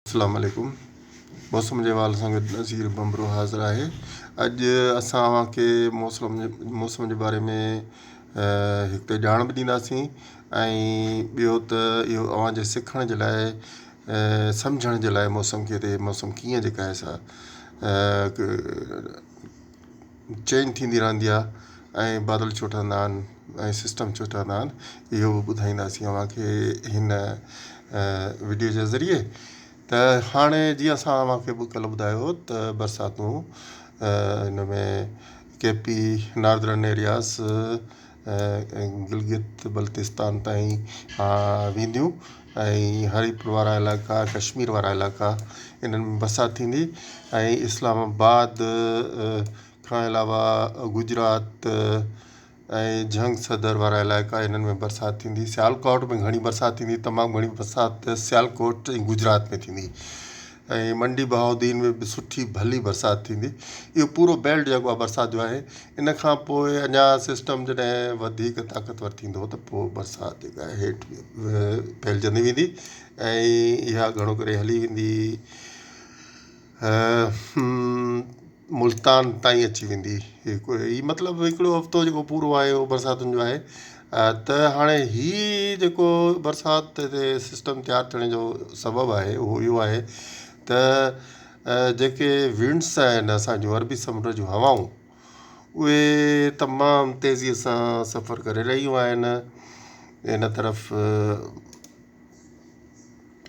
اسلام عليڪم موسم جي حوالي سان گڏ نظير ڀنڀرو حاضر آهي اڄ اسان اوهان کي موسم موسم جي باري ۾ هڪ ته ڄاڻ به ڏينداسين ۽ ٻيو ته اهو اوهان جي سکڻ جي لاء سمجهڻ جي لاء موسم کي ته موسم ڪيئن جيڪا آهي سا چينج ٿيندي رھندي آھي ۽ بادل ڇو ٺھندا آھن ۽ سسٽم ڇو ٺھندا آھن اھو بھ ٻڌائينداسين اوھانکي ھن وڊيو جي ذريعي تھ ھاڻي جيئن اسان اوھانکي ڪلھ ٻڌايو ھو تھ برساتون ھن ۾ K P Northern Areas Gilgit Baltistan تائين وينديون ۽ هريپور وارا علائقا ڪشمير وارا علائقا انهن ۾ برسات ٿيندي ۽ اسلام آباد کان علاوه گجرات ۽ جنگ سدر وارا علائقا انهن ۾ برسات ٿيندي سيالڪوٽ ۾ گهڻي برسات ٿيندي تمام گهڻي برسات سيالڪوٽ ۽ گجرات ۾ ٿيندي ۽ منڊي بهاؤالدين ۾ به سٺي ڀلي برسات ٿيندي اهو پورو بيلٽ جيڪو آهي برسات جو آهي ان کان پوء اڃا سسٽم جڏهن وڌيڪ طاقتور ٿيندو ته پوء برسات جيڪا آهي هيٺ ڦهلجندي ويندي ۽ اها گهڻو ڪري هلي ويندي ملتان تائين اچي ويندي هي مطلب هڪڙو هفتو جيڪو پورو آهي اهو برساتن جو آهي ته هاڻي هي جيڪو برسات تي سسٽم تيار ٿيڻ جو سبب آهي اهو اهو آهي ته جيڪي ونڊس آهن اسانجو عربي سمنڊ جون هوائون اهي تمام تيزي سان سفر ڪري رهيون آهن ان طرف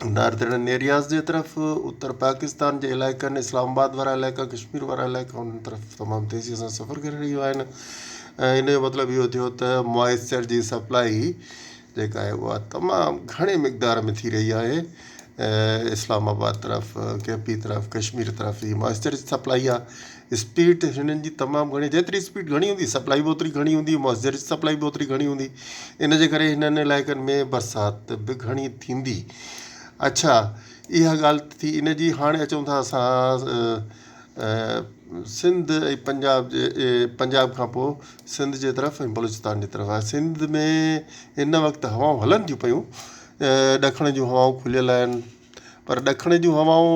ناردرن ايرياز جي طرف اتر پاڪستان جي علائقن اسلام آباد وارا علائقا ڪشمير وارا علائقا انهن طرف تمام تيزيء سان سفر ڪري رهيون آهن ۽ ان جو مطلب اهو ٿيو ته موئسچر جي سپلاء جيڪا آهي اها تمام گهڻي مقدار ۾ ٿي رهي آهي اسلام آباد طرف ڪي پي طرف ڪشمير طرف جي موئسچر جي سپلاء آهي اسپيڊ هنن جي تمام گهڻي جيتري اسپيڊ گهڻي هوندي سپلائي به اوتري گهڻي هوندي مؤثر سپلائي به اوتري گهڻي هوندي ان جي ڪري هنن علائقن ۾ برسات به گهڻي ٿيندي اڇا اها ڳالهه ته ٿي ان جي هاڻي اچون ٿا اسان سنڌ ۽ پنجاب جي پنجاب کان پوء سنڌ جي طرف ۽ بلوچستان جي طرف آهي سنڌ ۾ هن وقت هوائون هلن ٿيون پيون ڏکڻ جون هوائون کليل آهن پر ڏکڻ جون هوائون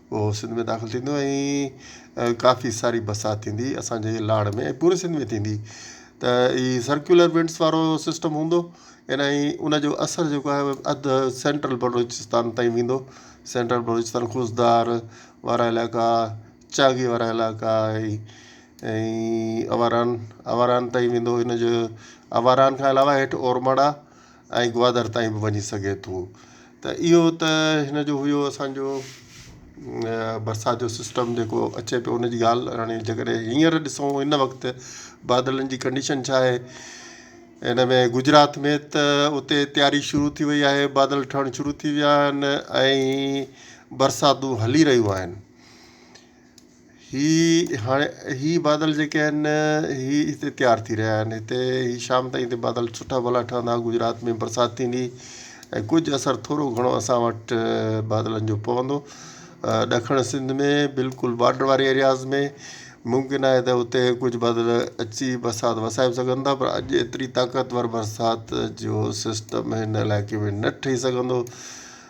اهو سنڌ ۾ داخل ٿيندو ۽ ڪافي ساري برسات ٿيندي اسان جي لاڙ ۾ ۽ پوري سنڌ ۾ ٿيندي ته هي سرڪيولر ونڊس وارو سسٽم هوندو ان ۽ ان جو اثر جيڪو آهي اهو اڌ سينٽرل بلوچستان تائين ويندو سينٽرل بلوچستان خضدار وارا علائقا چاڳي وارا علائقا ۽ اواران اواران تائين ويندو ان جو اواران کان علاوه هيٺ اورمڙا ۽ گوادر تائين به وڃي سگهي ٿو ته اهو ته هن جو هيو اسان جو برسات جو سسٽم جيڪو اچي پيو ان جي ڳالهه هاڻي جي ڪڏهن هينئر ڏسون هن وقت بادلن جي ڪنڊيشن ڇا آهي ان ۾ گجرات ۾ ته اتي تياري شروع ٿي وئي آهي بادل ٺهڻ شروع ٿي ويا آهن ۽ برساتون هلي رهيون آهن هي هاڻي هي بادل جيڪي آهن هي هتي تيار ٿي رهيا آهن هتي هي شام تائين هتي بادل سٺا ڀلا ٺهندا گجرات ۾ برسات ٿيندي ۽ ڪجهه اثر ٿورو گهڻو اسان وٽ بادلن جو پوندو ڏکڻ سنڌ ۾ بلڪل بارڊر واري ايرياز ۾ ممڪن آهي ته اتي ڪجهه بادل اچي برسات وسائي به سگهن ٿا پر اڄ ايتري طاقتور برسات جو سسٽم هن علائقي ۾ نه ٺهي سگهندو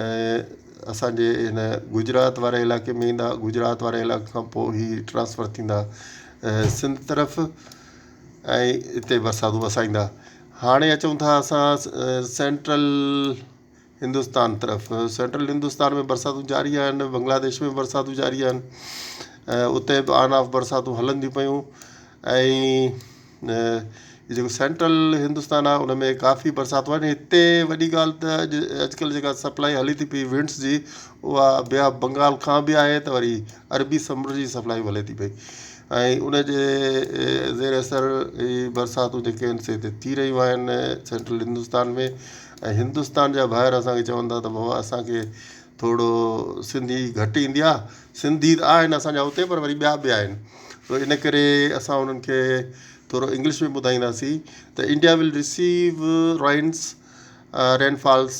۽ اسان جي هن گجرات واري علائقي ۾ ايندا گجرات واري علائقي کان پوء هي ٽرانسفر ٿيندا سنڌ طرف ۽ اتي برساتون وسائيندا هاڻي اچون ٿا اسان سينٽرل هندوستان طرف سينٽرل هندوستان ۾ برساتون جاري آهن بنگلاديش ۾ برساتون جاري آهن اتي به آن آف برساتون هلن ٿي پيون ۽ جيڪو سينٽرل هندستان آهي ان ۾ ڪافي برسات واري هتي وڏي ڳالهه ته اڄ اڄڪلهه جيڪا سپلائي هلي ٿي پئي ونڊس جي اها بي آف بنگال کان بي آهي ته وري عربي سمنڊ جي سپلائي هلي ٿي پئي ۽ ان جي زير اثر هي برساتون جيڪي آهن سي هتي ٿي رهيون آهن سينٽرل هندستان ۾ ۽ هندستان جا ڀائر اسانکي چون ٿا ته بابا اسانکي ٿورو سنڌي گهٽ ايندي آ سنڌي ته آهن اسان جا اتي پر وري ٻيا به آهن تو ان ڪري اسان انهن کي ٿورو انگلش ۾ ٻڌائينداسين ته India will receive rains rain falls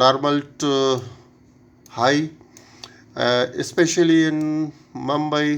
normal to high specially in Mumbai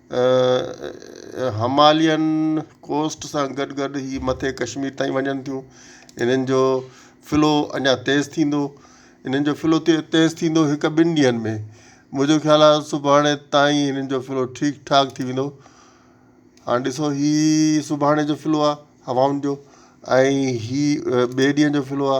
Himalayan coast سان گڏ گڏ هي مٿي ڪشمير تائين وڃن ٿيون انهن جو فلو اڃا تيز ٿيندو انهن جو فلو تي تيز ٿيندو هڪ ٻن ڏينهن ۾ منهنجو خيال آ سڀاڻي تائين انهن جو فلو ٺيڪ ٺاڪ ٿي ويندو هاڻ ڏسو هي سڀاڻي جو فلو آ هوائن جو ۽ هي ٻئي ڏينهن جو فلو آ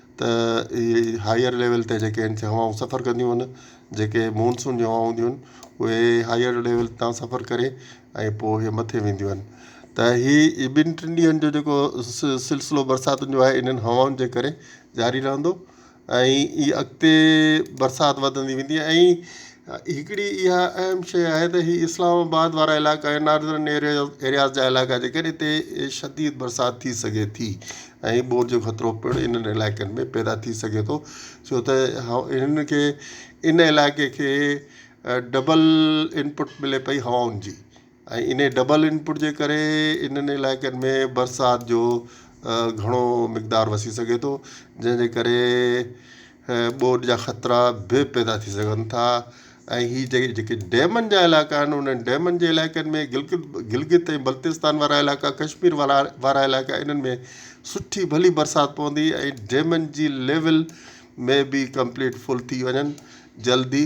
ته اهي هائير ليول تي جيڪي آهن سي هوائون سفر ڪنديون آهن جيڪي مونسون جون هوائون هونديون آهن اهي هائير ليول تان سفر ڪري ۽ پوء اهي مٿي وينديون آهن ته هي ٻن ٽن ڏينهن جو جيڪو سلسلو برساتن جو آهي انهن هوائن جي ڪري جاري رهندو ۽ اي اڳتي برسات وڌندي ويندي ۽ هڪڙي اها اهم شيء آهي ته هي اسلام آباد وارا علائقا ۽ ناردرن ايرياز جا علائقا آهن جيڪڏهن هتي شديد برسات ٿي سگهي ٿي ۽ ٻوڏ جو خطرو پڻ انهن علائقن ۾ پيدا ٿي سگهي ٿو ڇو ته هن کي ان علائقي کي ڊبل انپٽ ملي پئي هوائن جي ۽ انهي ڊبل ان پٽ جي ڪري انهن علائقن ۾ برسات جو گهڻو مقدار وسي سگهي ٿو جنهن جي ڪري ٻوڏ جا خطرا به پيدا ٿي سگهن ٿا ۽ هي جي جيڪي ڊيمن جا علائقا آهن انهن ڊيمن جي علائقن ۾ گلگت گلگت ۽ بلتستان وارا علائقا ڪشمير وارا وارا علائقا انهن ۾ سٺي ڀلي برسات پوندي ۽ ڊيمن جي ليول مي بي ڪمپليٽ فل ٿي وڃن جلدي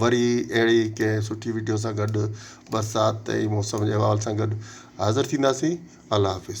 وري اهڙي ئي ڪنهن سٺي وڊيو سان گڏ برسات ۽ موسم جي احوال سان گڏ حاضر ٿينداسين الله حافظ.